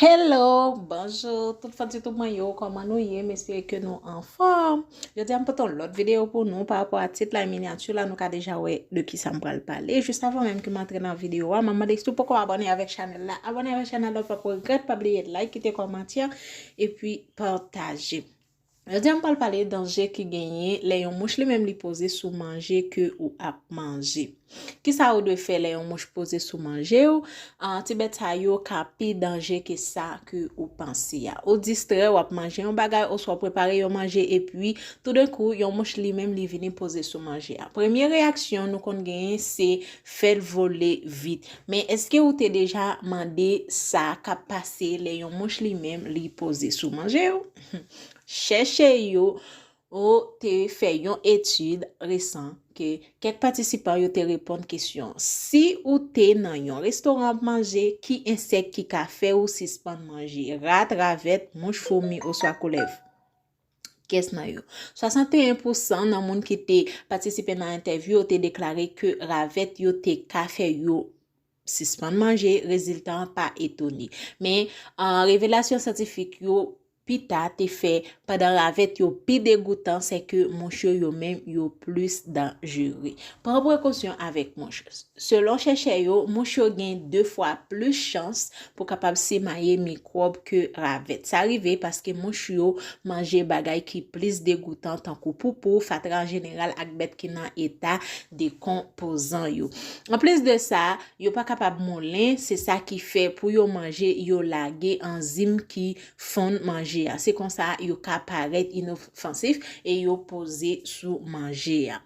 Hello, bonjou tout fans YouTube mwen yo, kòman nou ye? M espere ke nou anfòm. Jodi a m pote yon lòt videyo pou nou pa rapò a tit la e minyati la, nou ka deja wè de ki sa m pral pale. Jis avan menm ke m antre nan videyo a, m ap mande si w poko abòne avèk chanèl la, abòne avèk chanèl la ou pap regrèt, pa bliye like, kite kòmantè, epi pataje. Jodi a m pral pale danje ki genyen lè yon mouch li menm li poze sou manje ke ou ap manje. Kisa ou dwe fè lè yon mouch poze sou manje ou? Ti bèt sa yo ka pi danje ke sa ke ou panse a. Ou distrè, wap manje yon bagay oswa w prepare yon manje epi toudenkou yon mouch li menm li vini poze sou manje a. Premye reyaksyon nou konn genyen se fè l vole vit. Men eske ou te deja mande sa kap pase lè yon mouch li menm li poze sou manje ou? Chèchè yo te fè yon etid resan ke kèk patisipan yo te reponn kesyon, Si ou te nan yon restoran ap manje, ki ensèk ki ka fè ou sispann manje, rat, ravèt, mouch, foumi oswa koulèv? Kès nan yo? 61 pousan nan moun ki te patisipe nan entèvyou yo te deklare ke ravèt yo te ka fè yo sispann manje, rezilta an pa etone. Men, revelasyon syantifik yo pita te fè pandan ravèt yo pi degoutan, se ke mouch yo yo menm yo plis danjere. Pran prekosyon avèk mouch. Selon chèchè yo, mouch yo gen 2 fwa plis chans pou kapab simaye mikwòb ke ravèt. Sa rive paske mouch yo manje bagay ki plis degoutan tankou poupou, fatra an jeneral ak bèt ki nan eta dekonpozan yo. Anplis de sa, yo pa kapab moulen, se sa ki fè pou yo manje yo lage anzim ki fonn manje a. Se konsa yo ka parèt inofansif e yo poze sou manje a.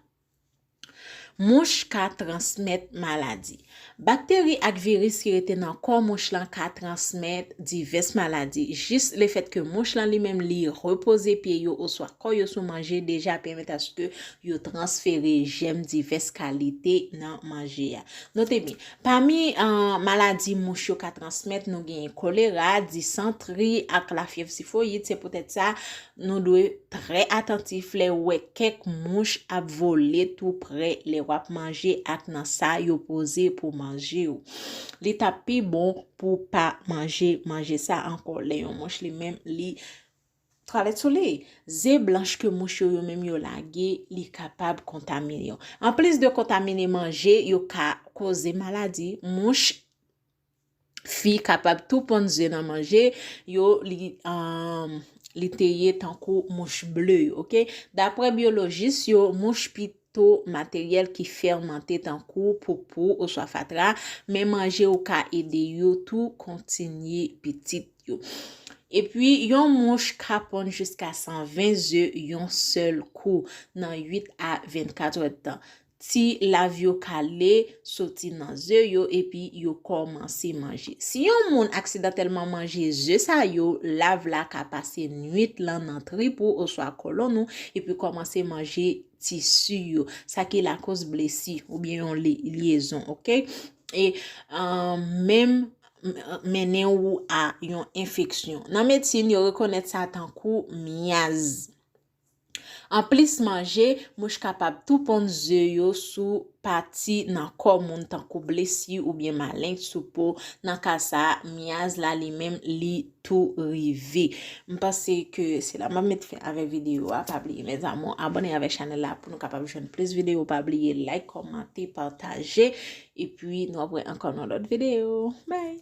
Mouch ka transmèt maladi. Bakteri ak viris ki rete nan kò mouch lan ka transmèt divès maladi. Jis lefèt ke mouch lan li menm li repoze pye yo oswa kò yo sou manje deja pèmèt aske yo transfere jèm divès kalite nan manje a. Note byen, pami maladi mouch yo ka transmèt nou genyen kolera, disantri ak lafyèv tifoyid, se poutèt sa Nou dwe trè atantif lè ou wè kèk mouch ap vole tou prè lè w ap manje ak nan sa yo poze pou manje ou. Li t ap pi bon pou w pa manje manje sa ankò lè yon mouch li menm li twalèt sou li. Ze blanch ke mouch yo yo menm yo lage, li kapab kontamine yo. Anplis de kontamine manje, yo ka koze maladi mouch. fi kapab tou ponn ze nan manje yo li te ye tankou mouch ble yo ok daprè byolojis yo mouch pi to materyèl ki fèmante tankou poupou oswa fatra men manje ou ka ede yo tou kontinye pitit yo epi yon mouch ka ponn jiska 120 ze yon sèl kou nan 8 a 24 èd tan Ti lav yo kale soti nan ze yo epi yo kòmanse manje. Si yon moun aksidantèlman manje ze sa yo, lav la ka pase nwit lan nan trip ou oswa kòlonn ou epi kòmanse manje tisi yo, sa ki lakoz blesi oubyen yon lyezon, ok. E menm mennen ou a yon enfeksyon. Nan medsin, yo rekonèt sa tankou myaz. Anplis manje, mouch kapab tou ponn ze yo sou pati nan kò moun tankou blesi oubyen maleng sou po, nan ka sa a, myaz la li menm li tou rive. M panse ke se la m ap met fen avèk videyo a, pa bliye mes amours abone avèk chanèl la pou nou kapab jwenn plis videyo, pa bliye like, kòmante, pataje, epi nou ap wè ankò nan lòt videyo. Bye!